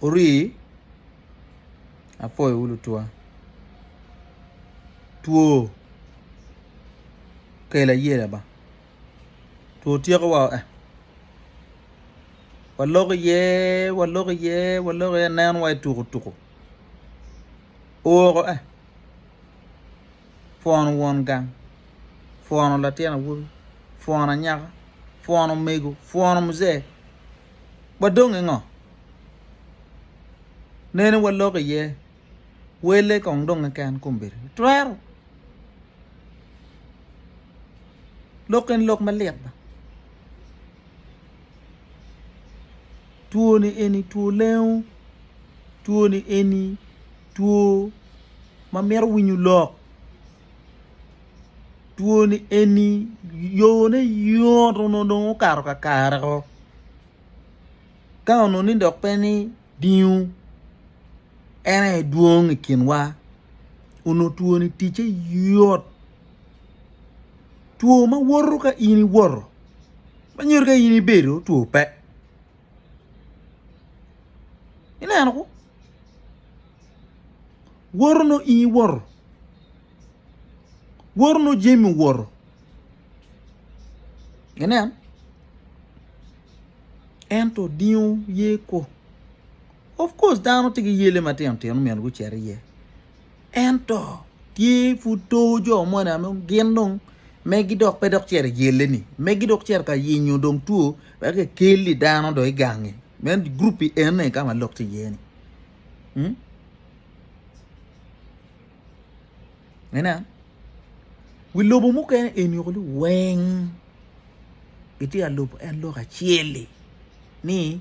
Ori apwoyo wu lutwa. Two kelo ayela ba two tyeko wa eh walok iye walok iye walok iye aneno wa ituku tuku oko eh. pwono won gang, pwono latin awobi, pwono anyaka, pwono omego, pwono muzee wa dong ki ngo? Nene wa lok iye wele kong dong keken kombeddi twero lok eni lok malit ba two ni eni two lengo two ni eni. two ma mito winyo lok two ni eni yone yoto nongo dong okato kakare oo ka onongo ni dok pe ni dingo en aye dwong i kinwa onongo two ni ticce yot two ma woto ka in iwoto ma nyuto ka in ibedo two pe. ineno ko woto nongo in iwoto woto nongo jami owoto inen ento odingo yer ko of course dano tye ki yele matino tino myero gucit iye. Ento tye pud too jo moni ame gin dong megi dok pe dok cito iyelle-ni, megi dok cito ka yenyo dong two wek ekelli dano dong i gangi, me guruppi ene ka ma lok tye iye-ni. Inen, wi lobo mukene eni woko ni weng gitye ka lubo en lok acel-li ni.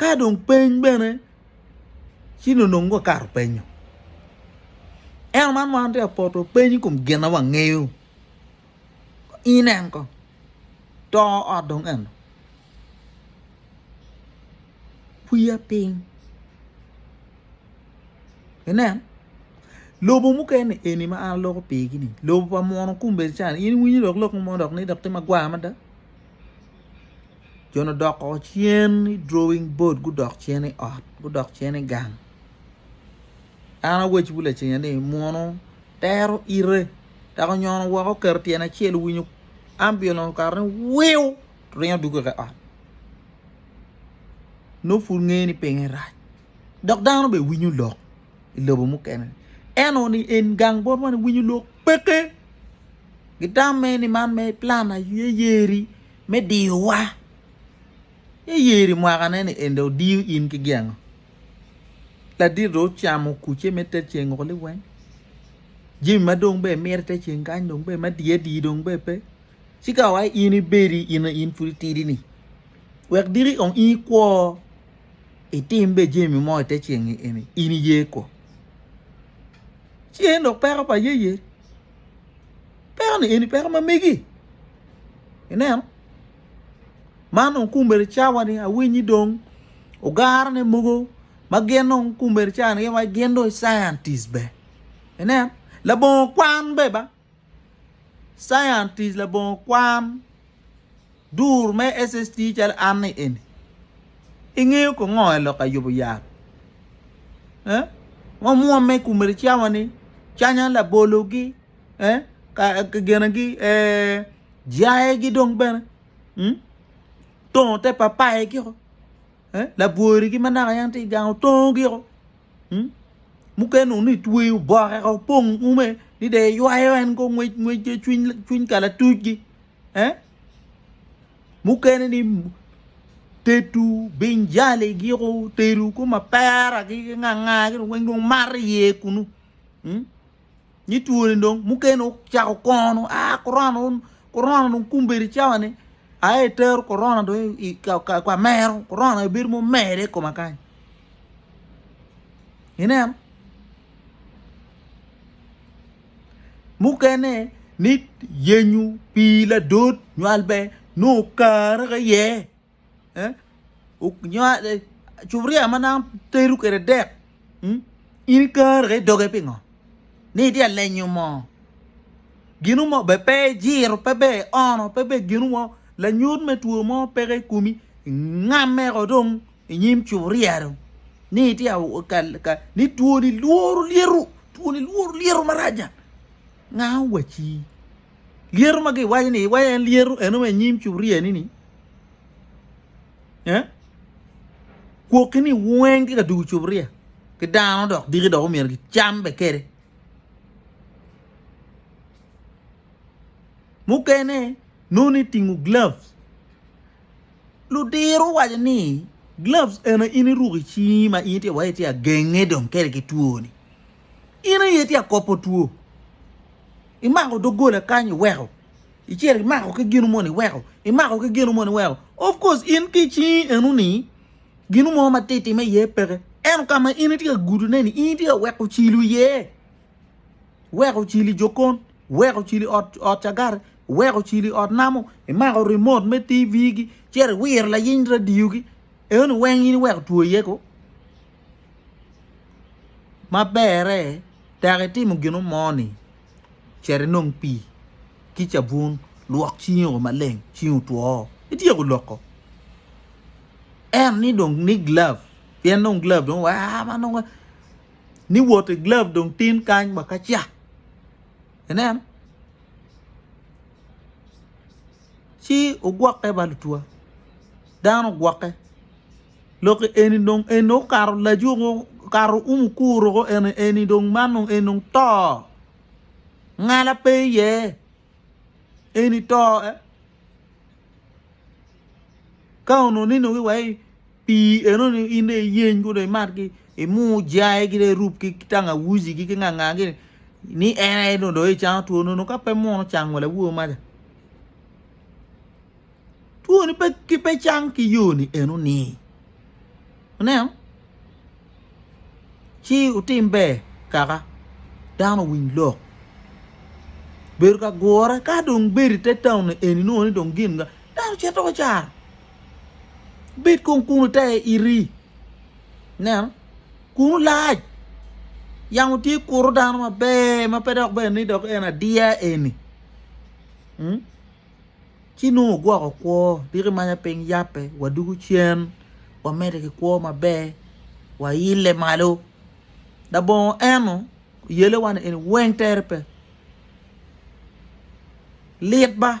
ka dong peny bene ci nonong wakato penyo ento man ma an atye ka poto peny i kom gin ma wangeyo inen ko to ot dong eno wiya piny inen lobo mukene eni ma an aloko pigi ni lobo pa mono kumbe can in iwinyo lok mo dok ni dok tye magwar mada jo ni odoko cen i drawing board gudok cen i ot gudok cen i gang an awacwu lacen ni munu tero ite dok onyono woko oketo tyene acel owinyo ambiulens okato ni wiu to ringo dwogo i ot nongo pud ngeyo ni pinye rac dok dano bene winyo lok. i lobo mukene. En o ni en gang bot man winyo lok peke. Gitamme ni man me plan aye yeri me diyowa. Ye yeri mwakane ni ende odiyo in ki gengo. Ladit do ocamo kuce me te ceng oko liweng. Jimi ma dong be mire te ceng kany dong be ma diye di dong be pe. Cika wa in ibedi in in pudi tidi ni. Wek diki ong in kwo. itim be jemi mo ite ceng eni in iye ko ci en dok peko pa yeye peko ni eni peko mamegi ineno man dong kumbere cawa ni awinyi dong ogaro ne mogo ma gin dong kumbere cawa ni gin dong scientist be ineno labongo kwan be ba. Science tic labongo kwan dur me SST calo an ni eni. Ingeyo ko ngo elok ayubo yat? Eh? Ngo mwomme kume ri cawa ni canya labolo gi eh? Ka gene gi eh? Jaye gi dong bene hmm? Tongo te papaye gi ko eh? Labwori gi manaka yan ti gango tongo gi ko. hmm? mukene onu itweyo boke ka opong ume ni de ywayo en go ngwec ngwec cwiny kala tucgi eh? mukene ni tetu binjali giko teru ko mapera ki nganga ki weng dong maro iye kunu hmm? Ni twoni dong mukene ocako kono a korona un korona dong kumbedi cawani aye itero korona dong i ka mero korona ebedo mumere i koma kany ineno mukene ni yenyo pii ladot nywal ber nongo kare aye. cupuria ma naka tedo kwede dek in ikaro ki idoge pingo ni itye ka lenyo moo gino mo bene pe ijiro pe ber iono pe ber gino mo lanyut me two mo peke i komi ingameko dong inyim cupuria dong ni itye ka ni twoni lworo lyeto twoni lworo lyeto maraca nga owacci. Lyeto ma giwaco ni iwaco en lyeto eno ma inyim curia ni ni eh? kwoki ni weng ki ka dugu curia ki dano dok diki dok omyero gicam be kede mukene noni itingo gloves ludiro waco ni gloves eno in iruko icingi ma in tye wai tye agenge dong kede ki twoni In aye tye akoppo two. Imako doggola kany iweko. Icito imako ki ginu moni iweko. Imako ki ginu moni iweko. Of course in ki cingi enu ni ginu mo ma titi me iye peke. Eno ka ma in itye ka gudu ne ni in itye ka weko cilu iye. Weko cili jokon, weko cili ot ot cagare, weko cili ot namo, imako remote me TV gi, cito iwiro layiny radio gi. Enoni weng in iweko two iye ko? Ma berre tek itimo gino mo ni cit inong pii ki cabun lwok cingi o maleng cingi otwo ityeko loko ento ni dong ni glove pien nongo glove dong wa ma nongo ni woti glove dong tin kany wa ka ca ineno. ci ogwokke ba lutwa dano ogwokke lok eni dong en dong okato lajuko okato umu kuro ko eni eni dong man dong en dong to ngala pe iye eni to ka onongo ni nongo iwaci Pii enoni in dong iyeny ko dong imatgi, imur jaigi dong irub ki tangawuzi-gi ki ngangagi ni en aye dong doyo icango two nono ka pe muno cango lawowa maca. Twoni pe ki pe cang ki yoni enoni. Ineno? Ci utim ber kaka dano owiny lok. Bedo ka gure ka dong bedo ite taun eni nongo ni dong gin dano cito wacar. Bed kong kunu te iri. Neno, kunu lac. Yamo tye kuro dano maber ma pe dok bene ni dok en adiya eni. Hmm? Ci nongo ogwoko kwo, diki manya piny yape, wadugu cen, wamede ki kwo maber, waile malo. Labongo eno, yele wani eni weng tere pe. Lit ba!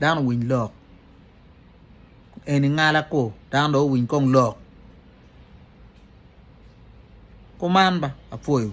dano owiny lok eni ngala ko dano dong owiny kong lok kuman ba apwoyo.